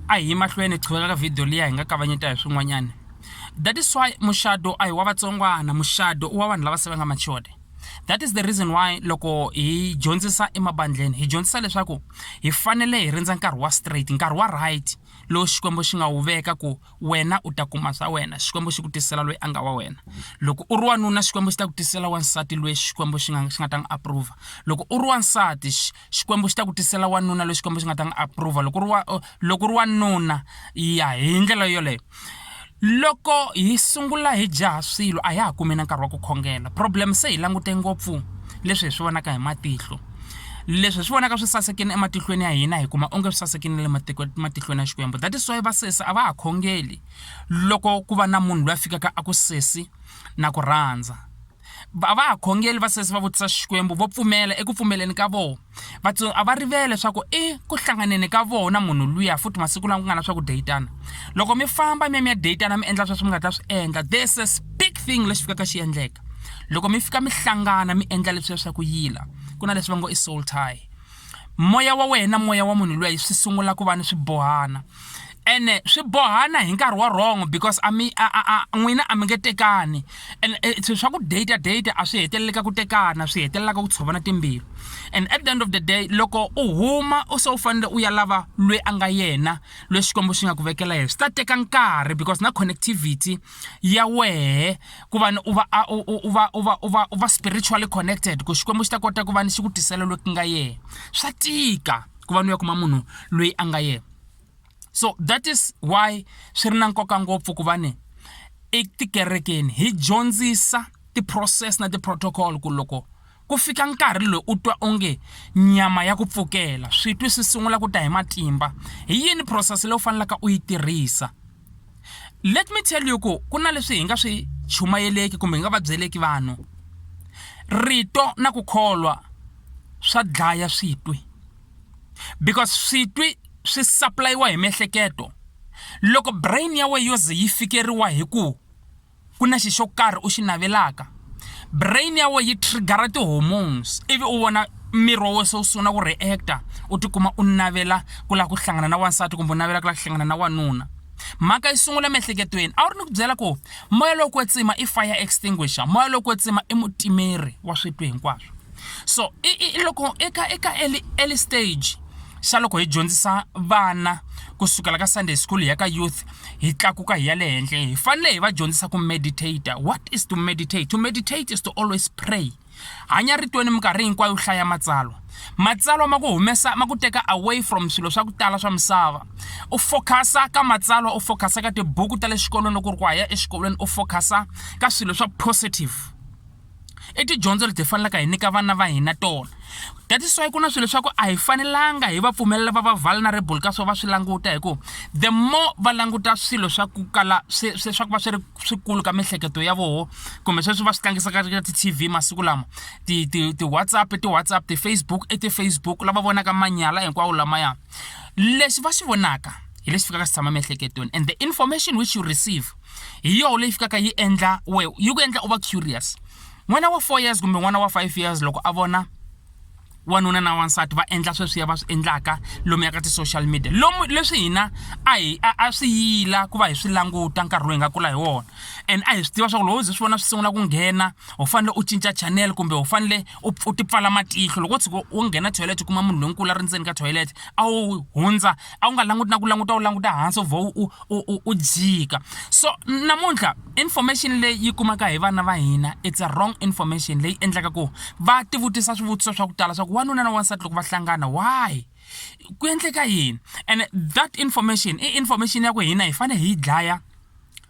a hi mahlweni hi qhuveka ka video liya hi nga kavanyeta hi swin'wanyana that is why muxado a hi wa vatsongwana muxado u wa vanhu lava se va nga machode that is the reason why loko hi dyondzisa emabandleni hi dyondzisa leswaku hi fanele hi rindza nkarhi wa straight nkarhi wa right lowu xikwembu xi nga wu veka ku wena u ta kuma swa wena xikwembu xi ku tisela loyi a nga wa wena loko u ri wanuna xikwembu xi ta ku tisela wansati loyi xikwembu xi nga xi nga ta n'wi approva loko u ri wansati Xikwembu xi ta ku tisela wanuna loyi Xikwembu xi nga ta n'wi approva loko ri wa loko ri wanuna ya hi ndlela yoleyo loko hi sungula hi jaha swilo a ya ha kumi na nkarhi wa ku khongela problem se hi langute ngopfu leswi hi swi vonaka hi matihlo leswi hi swi vonaka swi sasekini ematihlweni ya hina hi kuma onge swi sasekini le matiko matihlweni ya xikwembu that is why va sesi a va ha khongeli loko ku va na munhu loyi a fikaka a ku sesi na ku rhandza va va khongeli va sesi va vutisa xikwembu vo pfumela eku pfumeleni ka vona vatsongo a va rivele leswaku i ku hlanganeni ka vona munhu luya futhi masiku lama ku nga na swakudya yi tana loko mi famba mi ya mi ya deyitana mi endla sweswi mi nga ta swi endla this is big thing lexi fikaka xi endleka loko mi fika mi hlangana mi endla leswi ya swa ku yila ku na leswi va ngo i soul tie moya wa wena moya wa munhu loyi swi sungula ku va ni swibohana ene swi bohana hi nkarhi wa wrong because a mi n'wina a mi nge tekani and eh, swilo swa ku data data a swi heteleleka ku tekana swi hetelelaka ku tshovana timbilu and at the end of the day loko u huma u se u fanele u ya lava lweyi a nga yena lweyi xikwembu xi nga ku vekela yena swi ta teka nkarhi because na connectivity ya wehe ku va u va u va u va u va u va spiritually connected ku xikwembu xi ta kota ku va ni xi ku tisela loyi ku nga yena swa tika ku va ni ya kuma munhu loyi a nga yena so that is why swi ri na nkoka ngopfu ku va ni etikerekeni hi dyondzisa ti-process na ti-protocol ku loko ku fika nkarhi loyi u twa onge nyama ya ku pfukela swi twi swi sungula ku ta hi matimba hi yini process leyi u fanelaka u yi tirhisa let me tell you ku ku na leswi hi nga swi chumayeleki kumbe hi nga va byeleki vanhu rito na ku kholwa swa dlaya switwi because switwi swi supply-iwa hi miehleketo loko brain ya wena yo ze yi fikeriwa hi ku ku na xi xo karhi u xi navelaka brain ya wena yi trigger ti-hormones ivi u vona miri wa wena se wu sungula ku reactor u tikuma u navela ku lava ku hlangana na wansati kumbe u navela ku lava ku hlangana na wanuna mhaka yi sungula emiehleketweni a wu ri ni ku byela ku moya lowu kwetsima i fire extinguisher moya lowu kwetsima i mutimeri wa switwi hinkwaswo so i loko eka eka early early stage xa loko hi dyondzisa vana ku sukela ka sunday school hi ya ka youth hi tlakuka hi ya le henhla hi fanele hi va dyondzisa ku meditator what is to meditate to meditate is to always pray hanya ritweni minkarhi hinkwayo hlaya matsalwa matsalwa ma ku humesa ma ku teka away from swilo swa ku tala swa misava u focus-a ka matsalwa u focus-a ka tibuku ta le xikolweni loko u ri ku haya exikolweni u focus-a ka swilo swa positive i tidyondzo leti hi faneleke hi nyika vana va hina tona that is why ku na swilo leswaku a hi fanelanga hi va pfumelela va va vulnerable ka swo va swi languta hikuva the more va languta swilo swa ku kala swi swi swa ku va swi ri swikulu ka miehleketo ya voho kumbe sweswi va swi tlangisaka ka ti-tv masiku lama ti ti ti-whatsapp ti-whatsapp ti-facebook i ti-facebook lava vonaka manyala hinkwawo lamaya lexi va xi vonaka hi lexi fikaka xi tshama miehleketweni and the information which you receive hi yoho leyi fikaka yi endla we yi ku endla u va curious n'wana wa four years kumbe n'wana wa five years loko a vona wanuna na wansati va endla sweswiya va swi endlaka lomu ya ka ti-social media lomu leswi hina a hi a swi yila ku va hi swi languta nkarhi lowu hi nga kula hi wona and a hi swi tiva swa ku loko u ze swi vona swi sungula ku nghena u fanele u cinca channel kumbe u fanele u u tipfala matihlo loko wo tshuka wo nghena toilet u kuma munhu lonkulu a ri ndzeni ka toilet a wu hundza a wu nga languti na ku languta u languta hansi u vhe u u u u jika so namuntlha information leyi yi kumaka hi vana va hina it's a wrong information leyi endlaka ku va tivutisa swivutiso swa ku tala swa ku wanuna na wansati loko va hlangana why ku endleka yini and that information i information ya ku hina hi fanele hi yi dlaya.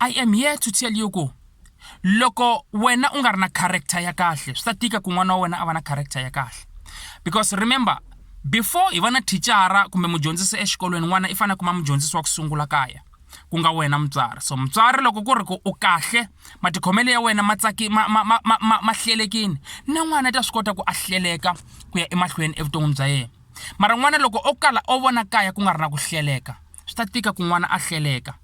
i am here to tell you ku loko wena u nga ri na character ya kahle swi ta tika ku n'wana wa wena a va na character ya kahle because remember before hi va na thicara kumbe mudyondzisi exikolweni n'wana i fanele kuma mudyondzisi wa ku sungula kaya ku nga wena mutswari so mutswari loko ku ri ku u kahle matikhomelo ya wena ma tsaki ma ma ma ma ma hlelekini na n'wana ta swi kota ku a hleleka ku ya emahlweni evuton'wini bya yena mara n'wana loko o kala o vona kaya ku nga ri na ku hleleka swi ta tika ku n'wana a hleleka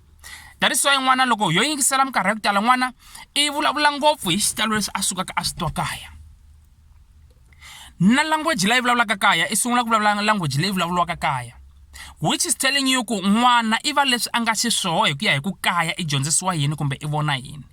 that is why n'wana loko yo yingisela minkarhi ya ku tala n'wana i vulavula ngopfu hi xitalo lexi a sukaka a xi twa kaya na language leyi vulavulaka kaya i sungula ku vulavula language leyi vulavuriwaka kaya which is telling you ku n'wana i va leswi a nga xiswoho hi ku ya hi ku kaya i dyondzisiwa yini kumbe i vona yini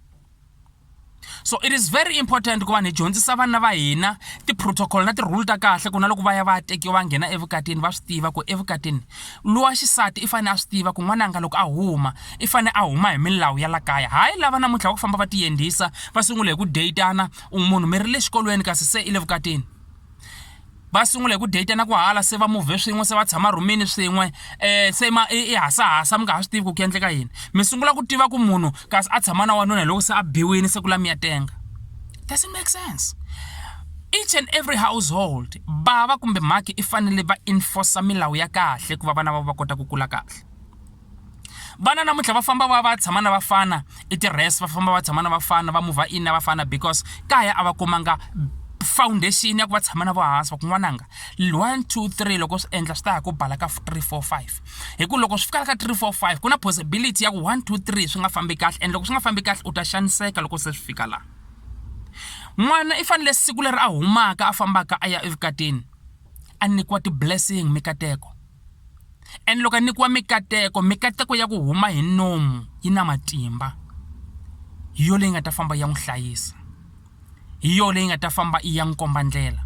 so it is very important ku vanhu hi dyondzisa vana va hina ti-protocol na ti-rule ta kahle ku na loko va ya va ya tekiwa va nghena evukatini va swi tiva ku evukatini lowa xisati i fanele a swi tiva ku n'wananga loko a huma i fanele a huma hi milawu ya la kaya hayi lava namuntlha va ku famba va tiyendlisa va sungula hi ku deyitana u munhu mi ri le xikolweni kasi se i le vukatini va sungula hi ku deyitana ku hala se va muvhe swin'we se va tshama rhumini swin'we um se ma i hasahasa mi nga ha swi tivi ku ku endleka yini mi sungula ku tiva ku munhu kasi a tshama na wanuna hi loko se a biwile se ku la mi ya tenga doesn't make sense each and every household bava kumbe mhaki i fanele va enforcer milawu ya kahle ku va vana va va kota ku kula kahle vana namuntlha va famba va va tshama na vafana i ti-res va famba va tshama na vafana va mova in na vafana because kaya a va kumanga foundation ya ku va tshama na vohansi va kun'wananga one two three loko swi endla swi ta ya ku bala ka three four five hi ku loko swi fikaka ka three four five ku na possibility ya ku one two three swi nga fambi kahle and loko swi nga fambi kahle u ta xaniseka loko se swi fika laha n'wana i fanele siku leri a humaka a fambaka a ya evukatini a nyikiwa ti-blessing mikateko Ene loko a nyikiwa mikateko, mikateko ya ku huma hi nomu yi na matimba. Hi yona leyi nga ta famba yi ya n'wi hlayisa. Hi yona leyi nga ta famba yi ya n'wi komba ndlela.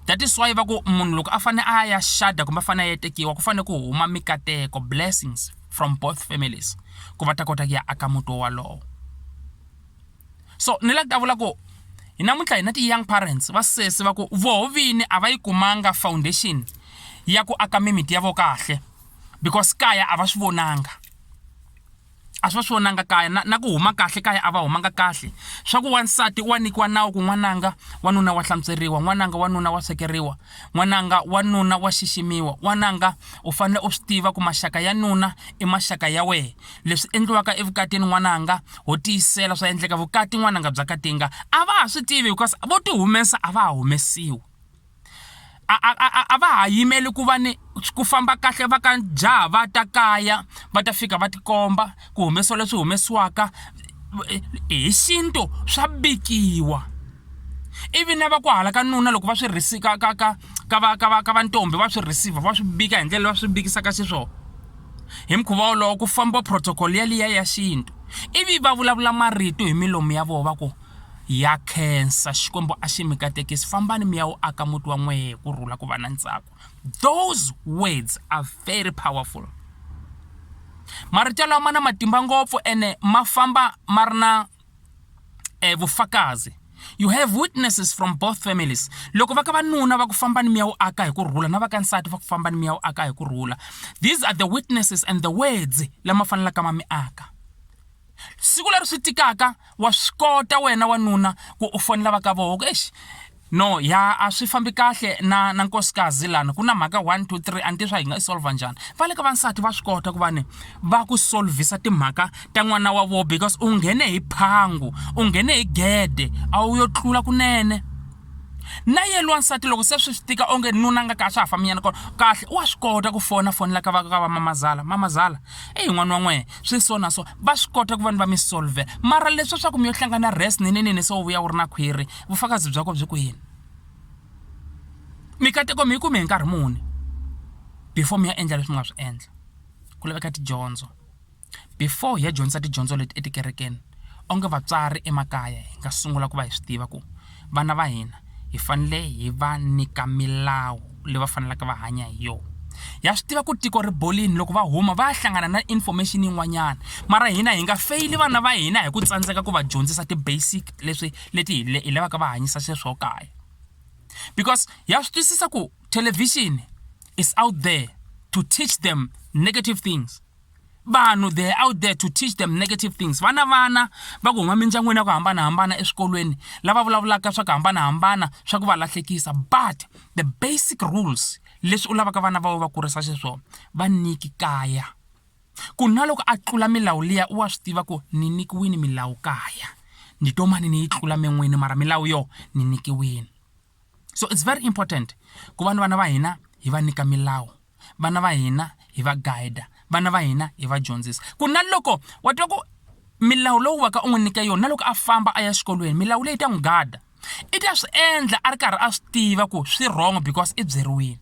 That is why va ku munhu loko a fanele a ya xada kumbe a fanele a ya tekiwa ku fanele ku huma mikateko, blessings, from both families, ku va ta kota ku ya aka muti wolowo. so ni la ku ta vula ku hi namuntlha hina ti-young parents va sesi va ku voho vini a va yi kumanga foundation ya ku aka mimiti ya vo kahle because kaya a va swi vonanga a swi va swi vonanga kaya na, na ku huma kahle kaya a va humanga kahle swa ku wansati wa nyikiwa nawu ku n'wananga wanuna wa hlantsweriwa n'wananga wanuna wa swekeriwa N'wananga, wanuna wa xiximiwa. Wananga, u fanele u swi tiva ku maxaka ya nuna i maxaka ya wehe. Leswi endliwaka evukatini n'wananga, ho tiyisela swa endleka vukati n'wananga bya katinga a va ha swi tivi hikuva vo ti humesa a va ha humesiwi. A a a a a va ha yimeli ku va ni ku famba kahle va ka jaha va ta kaya va ta fika va tikomba ku humesiwa leswi humesiwaka hi xintu swa bikiwa ivi na va ku hala ka nuna loko va swi risi ka ka ka ka va ka va ka va ntombi va swi receive va swi bika hi ndlela va swi bikisaka xiswona hi mukhuva wolowo ku famba protocol yaliya ya xintu ivi va vulavula marito hi milomu ya vona va ku ya khensa xikwembu a xi mi katekisi fambani mi ya wu aka muti wa n'wehe ku rhula ku va na ntsako those words are very powerful marito lawa ma na matimba ngopfu ene ma famba ma ri na eh, vufakazi you have witnesses from both families loko va ka vanuna va ku famba ni miya wo aka hi ku rhula na va ka nsati va ku famba ni miya wo aka hi ku rhula these are the witnesses and the words lama fanelaka ma mi aka siku leri swi tikaka wa swi kota wena wanuna ku u fonela va ka voho exi no ya a swi fambi kahle na na nkosikazi lana ku na mhaka 1 2 3 a ni swa hi nga i solva njhani va le ka vansati va swi kota ku va ni va ku solvisa timhaka ta n'wana wa vona because u nghene hi phangu u nghene hi gede a wu yo tlula kunene na yena wansati loko se swi tika onge nuna nga ka swa ha fambinyana kona kahle wa swi kota ku fona fonela ka va ka va mamazala mamazala eyi n'wana wa n'wena swi so na so va swi kota ku va ni va mi solve mara leswa swa ku mi yo hlangana res ninenene se u vuya u ri na khwiri vufakazi byako byi ku yini mikateko mi yi kume hi nkarhi muni before mi ya endla leswi mi nga swi endla ku laveka tidyondzo before hi ya dyondzisa tidyondzo leti etikerekeni Onge vatswari emakaya hi nga sungula ku va hi swi tiva ku vana va hina hi fanele hi va nyika milawu leyi va faneleke va hanya hi yona ya swi tiva ku tiko ri bolini loko va huma va ya hlangana na information yin'wanyana mara hina hi nga feyili vana va hina hi ku tsandzeka ku va dyondzisa ti-basic leswi leti hi hi lavaka va hanyisa sweswo kaya because ya swi twisisa ku thelevhixini is out there to teach them negative things. vanhu they're out there to teach them negative things vana vana va ku huma mindyangwini ya ku hambanahambana eswikolweni lava vulavulaka swa ku hambanahambana swa ku va lahlekisa but the basic rules leswi u lavaka vana va va kurisa xiswona va niki kaya ku na loko a tlula milawu liya u wa swi tiva ku ni nikiwini milawu kaya ni to mani ni yi tlula min'wini mara milawu yo ni nikiwini so it's very important ku va ni vana va hina hi va nyika milawu vana va hina hi va guide vana va hina hi va dyondzisa ku na loko wa twa ku milawu lowu waka u n'wi nyika yona na loko a famba a ya xikolweni milawu leyi ta n'wi gada i ta swi endla a ri karhi a swi tiva ku swi wrong because i byeriwile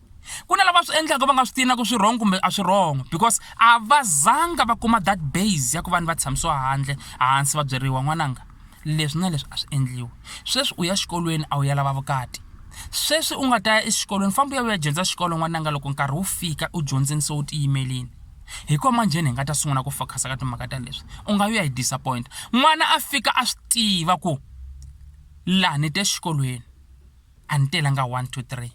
ku na lava swi endlaka va nga swi tina ku swi wrong kumbe a swi wrong because a va zanga va kuma that base ya ku vanhu va tshamisiwa handle hansi va byeriwa n'wananga leswi na leswi a swi endliwi sweswi u ya xikolweni a wu ya lava vukati sweswi u nga ta ya exikolweni famba u ya u ya dyondza xikolo n'wananga loko nkarhi wu fika u dyondzeni se u tiyimelini hi kona manjheni hi nga ta sungula ku focus-a ka timhaka ta leswi u nga yi ya hi disappoint n'wana a fika a swi tiva ku laha ni te xikolweni a ni telanga one two three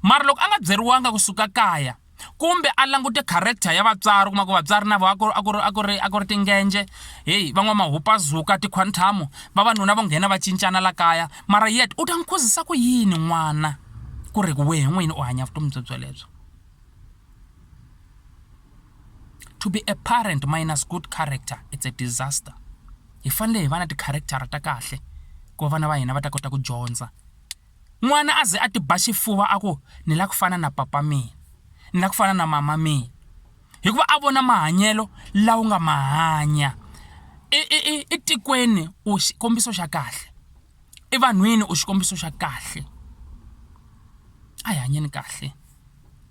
mara loko a nga byeriwanga kusuka kaya kumbe a langute character ya vatswari kuma ku vatswari na vo a ku a ku ri a ku ri a ku ri tingenje heyi van'wamahupazuka tikhwanthamo vavanuna vo nghena va cincana la kaya mara yet u ta n'wi khuzisa ku yini n'wana ku ri wehe n'wini u hanya vutomi byo byelebyo to be a parent minus good character it's a disaster hi fanele hi va na ti-character-a ta kahle ku va vana va hina va ta kota ku dyondza N'wana a ze a ti ba xifuva a ku, Ni lava ku fana na papa mina. Ni lava ku fana na mama mina. Hikuva a vona mahanyelo lawa u nga ma hanya. I i i i tikweni u xikombiso xa kahle. I vanhwini u xikombiso xa kahle. A hi hanyeni kahle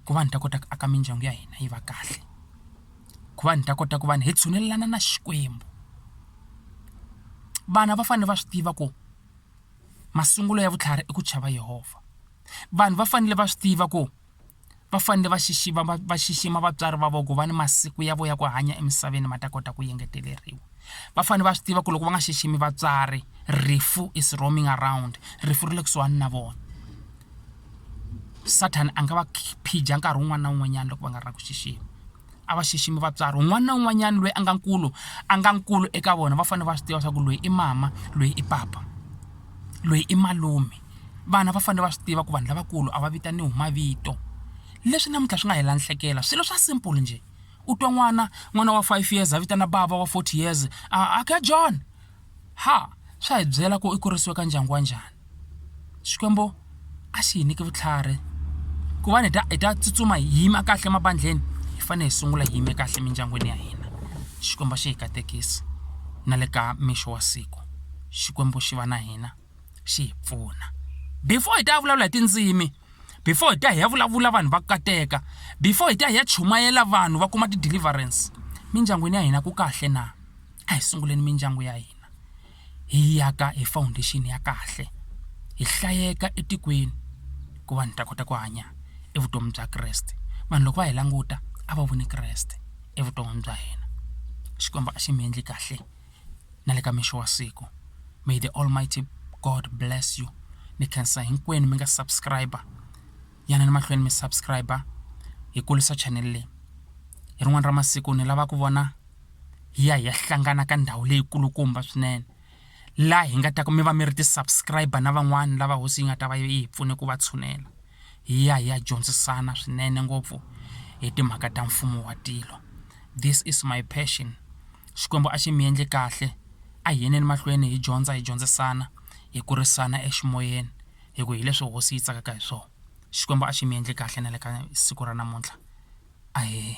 ku va ni ta kota ku aka mindyangu ya hina yi va kahle, ku va ni ta kota ku va hi tshunelelana na Xikwembu. Vana va fanele va swi tiva ku. masungulo ya vutlhari i ku chava yehovha vanhu va fanele va swi tiva ku va fanele va xixima va va xixima vatswari va voko va ni masiku ya vo ya ku hanya emisaveni ma ta kota ku engeteleriwa va fanele va swi tiva ku loko va nga xiximi vatswari rifu is roaming around rifu ri le kusuhani na vona sathana a nga va phija nkarhi wun'wana na wun'wanyana loko va nga ri na ku xixima a va xiximi vatswari un'wana na un'wanyana loyi a nga nkulu a nga nkulu eka vona va fanele va swi tiva swa ku loyi i mama loyi i papa loyi i malume vana va fanele va swi tiva ku vanhu lavakulu a va vitaniwi hi mavito leswi namuntlha swi nga hi lahlekela swilo swa simple njhe u twa n'wana n'wana wa five years a vitana bava wa forty years a John. ha swa hi byela ku i kurisiwe ka ndyangu wa njhani Xikwembu a xi hi nyiki vutlhari ku va ni ta hi ta tsutsuma hi yima kahle mabandlheni hi fanele hi sungula hi yime kahle emindyangwini ya hina Xikwembu a xi hi katekisi na le ka mixo wa siku Xikwembu xi va na hina xi hi pfuna before hi ta ya vulavula hi tindzimi before hi ta hi ya vulavula vanhu va kateka before hi ta hi ya chumayela vanhu va kuma ti-deliverance mindyangwini ya hina ku kahle na. a hi sunguleni mindyangu ya hina hi yi aka hi foundation ya kahle hi hlayeka etikweni ku vanhu hi ta kota ku hanya evutomi bya Kreste vanhu loko va hi languta a va voni Kreste evuton'wini bya hina Xikwembu a xi mi endli kahle na le ka mixo wa siku may the almighty God bless you mi khensa hinkwenu mi nga subscriber. yanani mahlweni mi subscribe hi kulisa channel leyi hi rin'wana ra masiku ni lava ku vona hi ya hi ya hlangana ka ndhawu leyi kulukumba swinene laha hi nga ta ku mi va mi ri ti subscribe na van'wani lava hosi yi nga ta va yi hi pfune ku va tshunela hi ya hi ya dyondzisana swinene ngopfu hi timhaka ta mfumo wa tilo this is my passion xikwembu a xi mi endli kahle a hi yeneni mahlweni hi dyondza hi dyondzisana hi kurisana eximoyeni hi ku hileswi hosi yi tsakaka hi swona Xikwembu a xi mi endle kahle na le ka siku ra namuntlha ahee.